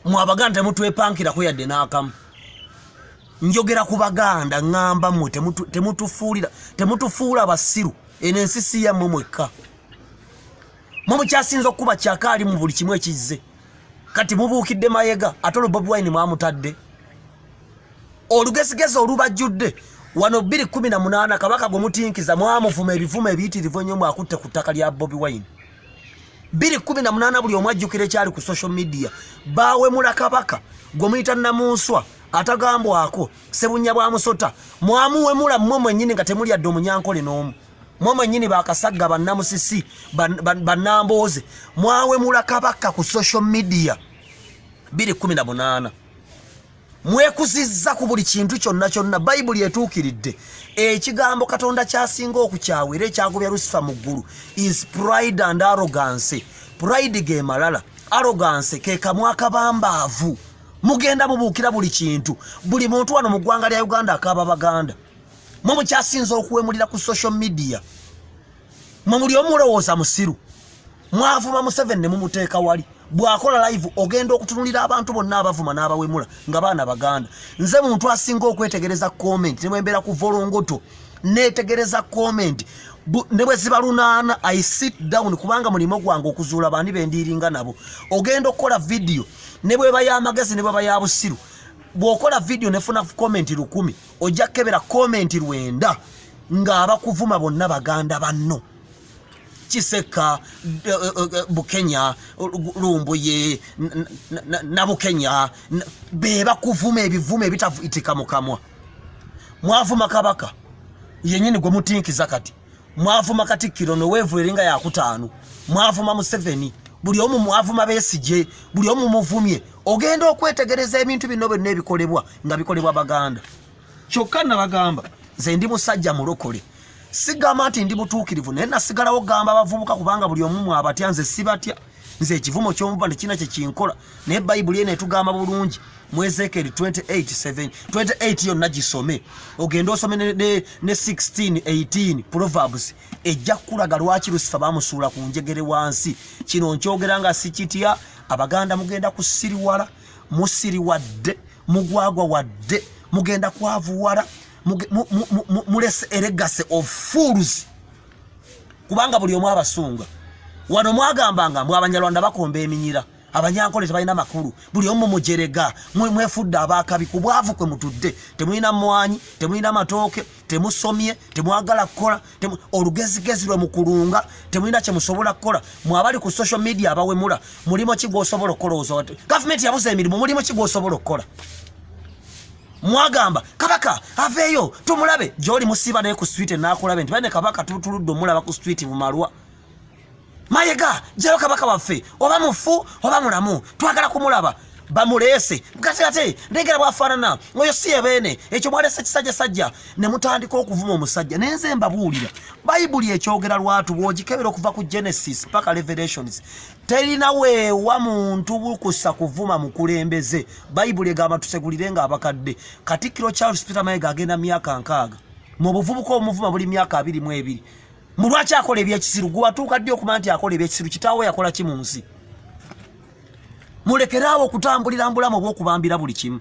mwe abaganda temutwepankirako yadde n'akamu njogera ku baganda ŋŋamba mwe temutufuulira temutufuula abasiru eno ensi si yammwe mwekka mwe mukyasinza okukuba kyaka ali mu buli kimu ekizze kati mubuukidde mayega ate olwo bobi wine mwamutadde olugezigezi olubajjudde wano bbiri kumi na munaana kabaka gwe mutinkiza mwamuvuma ebivumo ebiyitirivu ennyo mwakutte ku ttaka lya bobi wine biri kumi na munana buli omu ajjukira ekyali ku social media bawemula kabaka gwe muyita namunswa atagambwako sebunya bwa musota mwamuwemula mmwe mwenyini nga temulyadde omunyankole n'omu mwe mwenyini bakasagga bannamusisi bannambooze mwawemula kabaka ku social media biri kumi na munana mwekuzizza ku buli kintu kyonna kyonna bayibuli etuukiridde ekigambo katonda kyasinga okukyawa era ekyagobya lusifa mu ggulu is pride and arrogancy pride ge malala arrogancy ke kamwa akabambaavu mugenda mubuukira buli kintu buli muntu wano mu ggwanga lya uganda akaaba baganda mwe mukyasinza okuwemulira ku social media mwe muli omulowooza musiru mwavuma museven ne mumuteeka wali bwakola live ogenda okutunulira abantu bonna abavuma n'abawemula nga baana baganda nze muntu asinga okwetegereza comment nemwembeera ku volongoto netegereza comment ne bwe ziba lunaana i sit down kubanga mulimu gwange okuzuula baani bendiiringa nabo ogenda okukola vidiyo ne bweba y'amagezi ne bweba ya busiru bw'okola vidiyo nefuna comment lukumi ojja kukebera komenti lwenda ng'abakuvuma bonna baganda banno kisekka eh, eh, eh, bukenya lumbuye nabukenya be bakuvuma ebivumo ebitavuitika mu kamwa mwavuma kabaka yenyini gwe mutinkiza kati mwavuma katikkiro noweevu eringa yakutaano mwavuma museveni buli omu mwavuma besigye buli omu muvumye ogenda okwetegereza ebintu bino byonna ebikolebwa nga bikolebwa baganda kyokka nabagamba nze ndi musajja mulokole sigamba nti ndi mutuukirivu naye nasigalawo gamba abavubuka kubanga buli omu mwabatya nze sibatya nze ekivumo ky'omuva tekirina kye kinkola naye bayibuli eno etugamba bulungi mu ezekieri 28 28 yonna gisome ogende osome ne, ne, ne 16 18 proverbs ejja kukulaga lwaki lusifa bamusuula ku njegere wansi kino nkyogera nga sikitya abaganda mugenda kusiriwala musiriwadde mugwagwa wadde mugenda kwavuwala mulese eregase of fools kubanga buli omu abasunga wano mwagambanga mwe abanyarwanda bakomba eminyira abanyankole tebalina makulu buli omu mujerega mwefudde abakabi ku bwavu kwe mutudde temulina mwanyi temulina matooke temusomye temwagala kukola olugezigezi lwe mukulunga temulina kye musobola kukola mwabali ku social media abawemula mulimu ki gwosobola okukola gavumenti yabuza emirimu mulimu ki gwosobola okukola mwagamba kabaka aveeyo tumulabe gyoli musiiba naye ku swite nakulabe nti bane kabaka tutuludde omulaba ku swite mumalwa mayega jayo kabaka waffe oba mufu oba mulamu twagala kumulaba bamuleese kati ate ndengera bwafaanana oyo si ebeene ekyo mwalese ekisajja sajja ne mutandika okuvuma omusajja naye nze mbabuulira bayibuli ekyogera lwatu bw'ogikebera okuva ku genesis paka revelations terina weewa muntu bukusa kuvuma mukulembeze bayibuli egamba tusegulire nga abakadde katikkiro charles peter mayega agenda myaka nkaaga mu buvubuka omuvuma buli myaka abiri mu ebiri mu lwaki akola ebyekisiru gwewatuuka ddi okumanya nti akola ebyekisiru kitaawo yakola ki mu nsi mulekeraawo okutambulira mbulamu obwokubambira buli kimu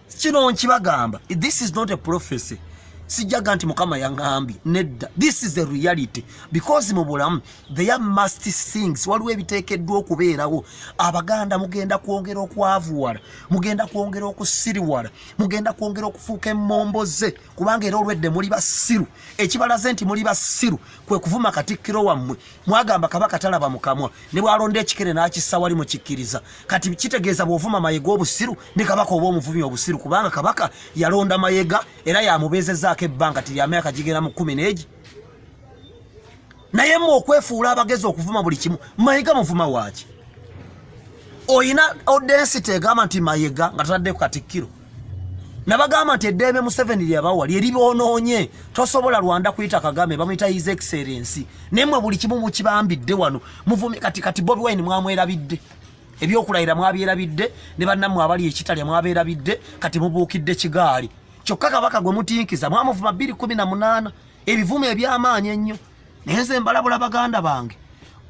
kino nkibagamba this is not a prophecy sijjaga nti mukama yaŋambye nedda this is the reality because mu bulamu there must things waliwo ebiteekeddwa okubeerawo abaganda mugenda kwongera okwavuwala mugenda kwongera okusiriwala mugenda kwongera okufuuka emmombo ze kubanga era olwedde muli basiru ekibalaze nti muli basiru kwe kuvuma katikkiro wammwe mwagamba kabaka talaba mukamwa ne bwalonda ekikere n'akissa wali mukikkiriza kati kitegeeza bw'ovuma mayega obusiru ne kabaka oba omuvumi obusiru kubanga kabaka yalonda mayega era yamubeezezaako ebbanga ti lyamyaka gigera mu kumi n'egi naye mu okwefuula abagezi okuvuma buli kimu mayega muvuma waaki oyina odensity egamba nti mayega nga tataddeko katikkiro nabagamba nti eddembe museveni lyabawa lyeribonoonye tosobola rwanda kuyita kagame bamuyita his excellency naye mwe buli kimu mukibambidde wano muvumi kati kati bobi wine mwamwerabidde ebyokulayira mwabyerabidde ne bannammwe abali ekitalya mwabeerabidde kati mubuukidde kigaali kyokka kabaka gwe mutinkiza mwamuvuma bbiri kumi na munaana ebivumo eby'amaanyi ennyo naye nze mbalabula baganda bange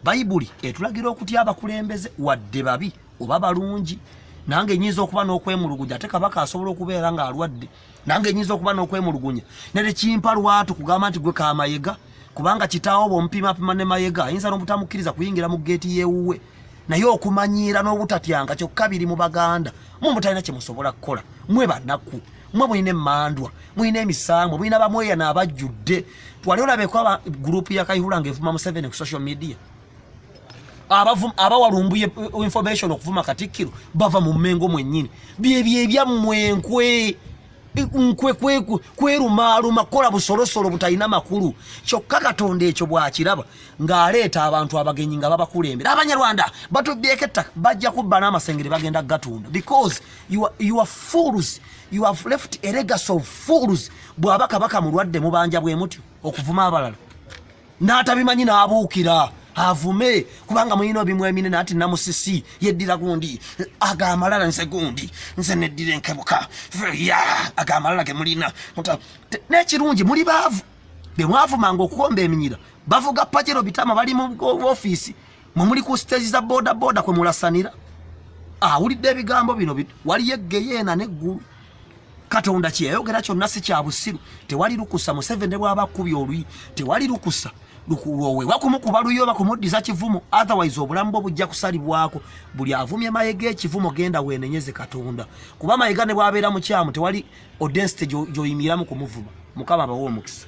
bayibuli etulagira okutya abakulembeze wadde babi oba balungi nange nyinza okuba n'okwemuluguja ate kabaka asobola okubeera ng'alwadde nange nyinza okuba n'okwemulugunya nere kimpa lwatu kugamba nti gwe kamayega kubanga kitaawo bwomupimapima ne mayega ayinza n'obutamukkiriza kuyingira mu geeti yewuwe naye okumanyiira n'obutatyanga kyokka biri mu baganda mwe mutalina kye musobola kukola mwe banakku mwe mulina emandwa mulina emisambwa mulina bamweyana abajjudde twali olabeko aba gurupu ya kayihula nga evuma museveni ku social media abawalumbuye eh, information okuvuma katikkiro bava mu mmengo mwennyini byebyo ebyammwe enkwe nkwe kwerumaaluma kukola busolosolo butalina makulu kyokka katonda ekyo bwakiraba ng'aleeta abantu abagenyi nga babakulembera abanyarwanda batubyeko ettaka bajja kubba n'amasengere bagenda kugatunda because your fools you have left a legacy of fools bw'aba kabaka mulwadde mubanja bwe mutyo okuvuma abalala n'atabimanyi n'abuukira avume kubanga muyina obimu eminene ati namusisi yeddira gundi agamalala nze gundi nze neddira enkebuka ya agamalala gemulina nekirungi muli baavu bemwavumanga okukomba eminyira bavuga pajero bitama bali mu ofiisi mwe muli ku siteegi za bodaboda kwe mulasanira awulidde ebigambo bino waliyo eggeyeena n'eggulu katonda kyeyayogera kyonna si kya busiru tewali lukusa museveni bwaba akubi olwi tewali lukusa lukulwowe wakumukuba luyo oba kumuddiza kivumo otherwise obulamu bwo bujja kusalibwako buli avumye mayega ekivumo genda wenenyeze katonda kuba mayega ne bwabeera mukyamu tewali odensite gyoyimiramu kumuvuma mukama abawa omukisa